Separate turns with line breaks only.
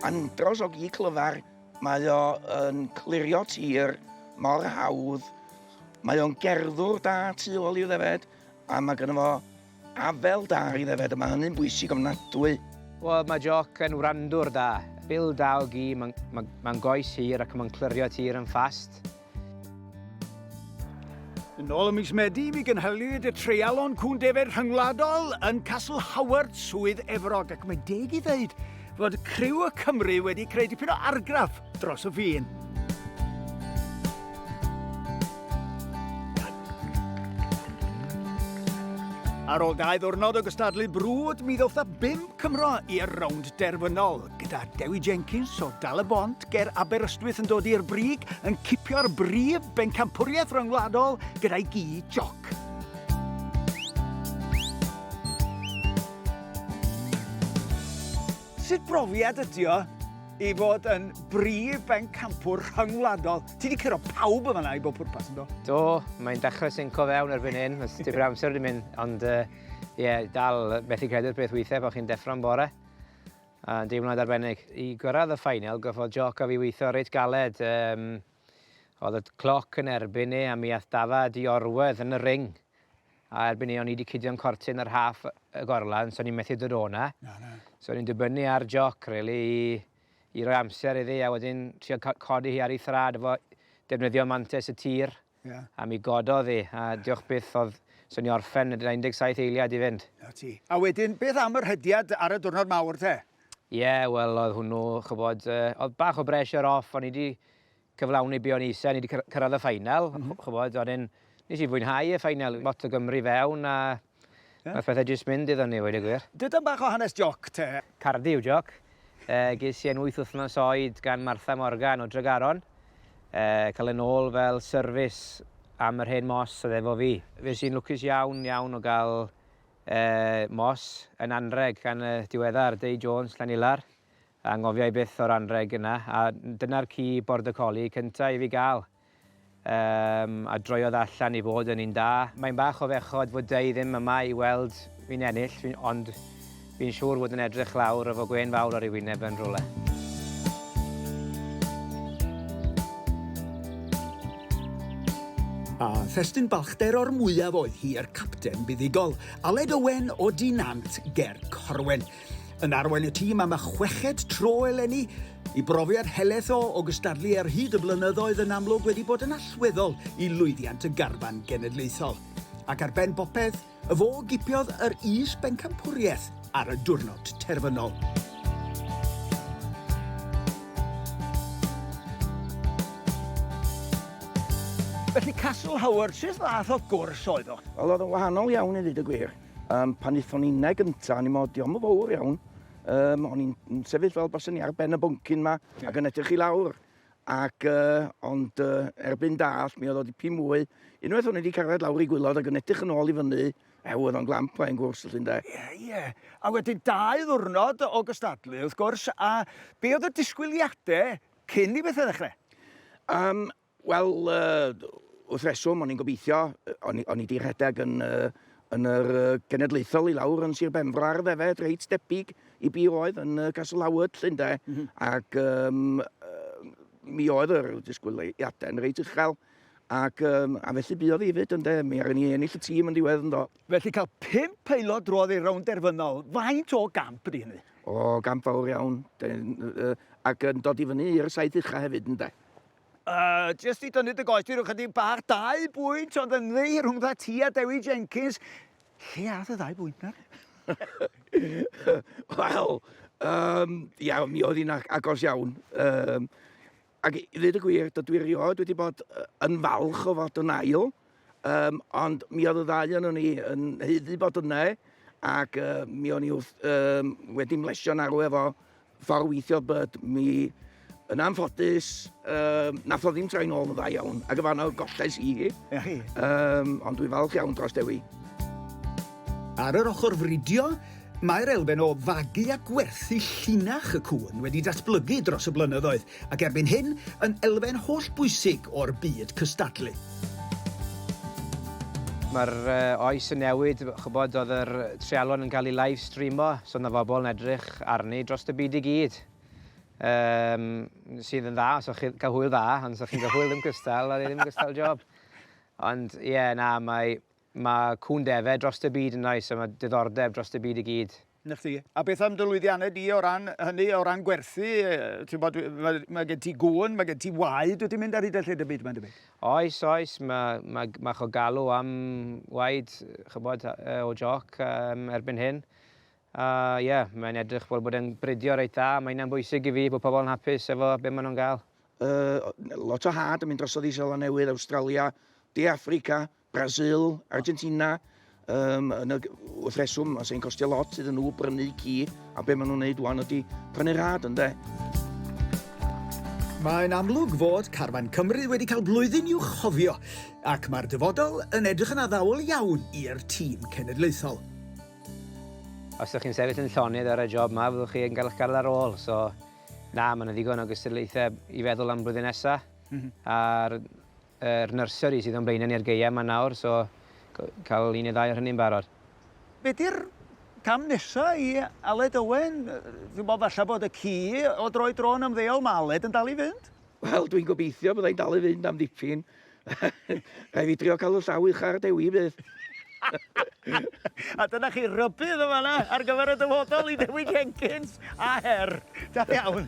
andros o gi clyfar, mae o yn clirio tir mor hawdd, mae o'n gerddwr da tu ôl i'w ddefed, a mae gynnu fo afel da i ddefed, a mae hynny'n bwysig ofnadwy. Wel, mae Joc
yn wrandwr da. Bil da o gi, mae'n ma, ma goes hir ac mae'n clirio tir yn ffast.
Yn ôl ym mis Medi, mi gynhaliwyd y treialon cwn defaid rhyngwladol yn Castle Howard, Swydd Efrog, ac mae deg i ddeud fod criw y Cymru wedi creu dipyn o argraff dros y ffin. Ar ôl dau ddwrnod o gystadlu brwd, mi ddoth â bum Cymro i'r rownd derfynol. gyda Dewi Jenkins o Dal y Bont ger Aberystwyth yn dod i'r brig yn cipio'r brif bencampwriaeth ryngwladol gyda'i gi joc. Sut brofiad ydy o i fod yn brif bencampwr rhyngwladol? Ti wedi cyrraedd pawb yma na i bob pwrpas yn do? Do, mae'n
dechrau synco fewn erbyn hyn, os ti'n amser wedi mynd, ond ie, yeah, dal methu credu'r peth weithiau pan chi'n deffro'n bore. A yn deimlad arbennig. I gyrraedd y ffainel, gorfod Joc a fi weithio reit galed. Um, oedd y cloc yn erbyn ni a mi ath dafad i orwedd yn y ring. A erbyn ni, o'n i wedi cydio'n cortyn yr haff y gorlan, so o'n i'n methu dod o'na. Na, na. So o'n i'n dibynnu ar Joc, really, i, i roi amser iddi, a wedyn trio codi hi ar ei thrad efo defnyddio mantes y tir. Ie. A mi gododd hi, a diolch byth oedd swn i orffen, gyda 17 eiliad i fynd. 'Na ti. A wedyn, beth
am y rhediad ar y diwrnod mawr te? Ie, wel,
oedd hwnnw, ch'bod, yy, oedd bach o bressure off, o'n i 'di cyflawni be' o'n i isie, o'n i 'di cyr- cyrraedd y final, ch- ch'bod, a wedyn, nes i fwynhau y final, lot o Gymru fewn, a Ie? Mae pethau jyst mynd iddon ni, weud y gwir. Dydam bach o hanes Joc,
te. Cardi yw Joc.
Yy, ges i e'n wyth wythnos oed gan Martha Morgan o Dregaron. Yy, cael e'n ôl fel syrfis am yr hen mos oedd efo fi. Fues i'n lwcus iawn, iawn o gael, yy, mos yn anrheg gan y diweddar Dei Jones, Llanillar. Angofiai byth o'r anrheg yna, a dyna'r ci Border Collie cynta i fi gael. Yym, a droiodd allan i fod yn un da. Mae'n bach o fechod fod Dei ddim yma i weld fi'n ennill, fi'n, ond fi'n siŵr fod yn edrych lawr efo gwên fawr ar ei wyneb yn rywle.
A thestun balchder o'r mwyaf oedd hi i'r capten buddugol, Aled Owen o Dŷ Nant ger Corwen. Yn arwain y tîm am y chweched tro eleni, i brofiad heleth o o gystadlu ar hyd y blynyddoedd yn amlwg wedi bod yn allweddol i lwyddiant y garfan genedlaethol. Ac ar ben bopeth, y fo gipiodd yr is bencampwriaeth ar y diwrnod terfynol. Felly Castle Howard, sut fath o gwrs oedd o? Wel oedd o'n wahanol iawn
i ddweud y gwir. Um, pan ithon ni neu gynta, ni mod i o'n fawr iawn. Um, o'n i'n sefyll fel bas ni ar ben y bwncyn ma, yeah. ac yn edrych i lawr. Ac uh, ond uh, erbyn dall, mi oedd o dipyn mwy. Unwaith o'n i wedi carfod lawr i gwylod ac yn edrych yn ôl i fyny, ew, oedd o'n glamp o'n gwrs, ydyn de. Ie, yeah, ie. Yeah. A
wedyn dau ddwrnod o gystadlu, wrth gwrs, a be oedd y disgwyliadau cyn i bethau ddechrau? Um, Wel,
wrth reswm, o'n i'n gobeithio, o'n i, o'n i di rhedeg yn, yn yr genedlaethol i lawr yn Sir Benfro ar y ddefed, reit debyg i bi oedd yn Castle Howard, llynde, mm -hmm. ac um, mi oedd yr disgwyliadau yn reit uchel, ac um, a felly bu oedd i fyd, ynddo, mi ar ni ennill y tîm yn diwedd ynddo. Felly cael pum
peilod drodd i'r rownd derfynol, faint o gamp ydy hynny? O, gamp fawr
iawn, ac yn dod i fyny i'r saith ucha hefyd, ynddo. Uh,
just i dynnu dy goes ti rhywch ychydig bach, dau bwynt oedd yn ddi rhwng dda ti a Dewi Jenkins. Lle ath y ddau bwynt na?
Wel, um, ia, mi oedd hi'n agos iawn. Um, ac i ddweud y gwir, dydw i rioed wedi bod yn falch o fod yn ail. Um, ond mi oedd y ddau yn ni yn heiddi bod yna ac uh, mi o'n i wrth, um, wedi mlesio'n arw efo ffordd weithio byd mi yn anffodus, um, nath o ddim tra'n ôl yn dda iawn, ac y fan o gollais i hi. Um, ond dwi'n falch iawn dros Dewi.
Ar yr ochr fridio, Mae'r elfen o fagu a gwerthu llinach y cŵn wedi datblygu dros y blynyddoedd, ac erbyn hyn yn elfen hollbwysig o'r byd cystadlu.
Mae'r oes yn newid, chybod, oedd yr treialon yn cael ei live streamo, so oedd 'na bobl yn edrych arni dros y byd i gyd. Um, sydd yn dda, os o'ch chi'n cael hwyl dda, ond os o'ch chi'n cael hwyl ddim cystal, oedd e ddim cystal job. Ond ie, yeah, na, mae Mae cŵn defaid drost y byd yn neis a mae diddordeb drost y byd i gyd. Na chdi. A beth
am dy lwyddiannau di o ran hynny, o ran gwerthu? Ti'n bod, mae, mae gen ti gŵn, mae gen ti waed wedi mynd ar hyd a lled y byd mae'n debyg. Oes, oes, mae,
mae, mae o galw am waed, chybod, o joc um, erbyn hyn. A uh, ie, yeah, mae'n edrych fel bod e'n bridio reit dda, mae hynna'n bwysig i fi, bod pobl yn hapus efo beth maen nhw'n gael. Uh, lot
o had yn mynd drosodd i Seland Newydd, Awstralia, De Africa, Brasil, Argentina, um, yn y, wrth reswm, os ein costio lot iddyn nhw brynu ci, a be maen nhw'n neud wan ydy prynu rad ynde.
Mae'n amlwg fod Carfan Cymru wedi cael blwyddyn i'w chofio, ac mae'r dyfodol yn edrych yn addawol iawn i'r tîm cenedlaethol.
Os ydych chi'n sefyll yn llonydd ar y job yma, fyddwch chi yn cael eich gadael ar ôl, so na, mae'n ddigon o gystadlaethau i feddwl am blwyddyn nesaf, mm -hmm. a'r Yr nursery sydd o'n blaena ni ar gaea 'ma nawr so cael un neu ddau o rhynny'n barod. Be di'r
cam nesa i Aled Owen? Dwi'n meddwl falle bod y ci o dro i dro yn ymddeol, mae Aled yn dal i fynd? Wel dwi'n gobeithio
byddai'n dal i fynd am ddipyn. Rhaid fi drio cael y llaw ucha ar Dewi byth.
A dyna chi rybudd yn fanna ar gyfer y dyfodol i Dewi Jenkins a Her. Da iawn.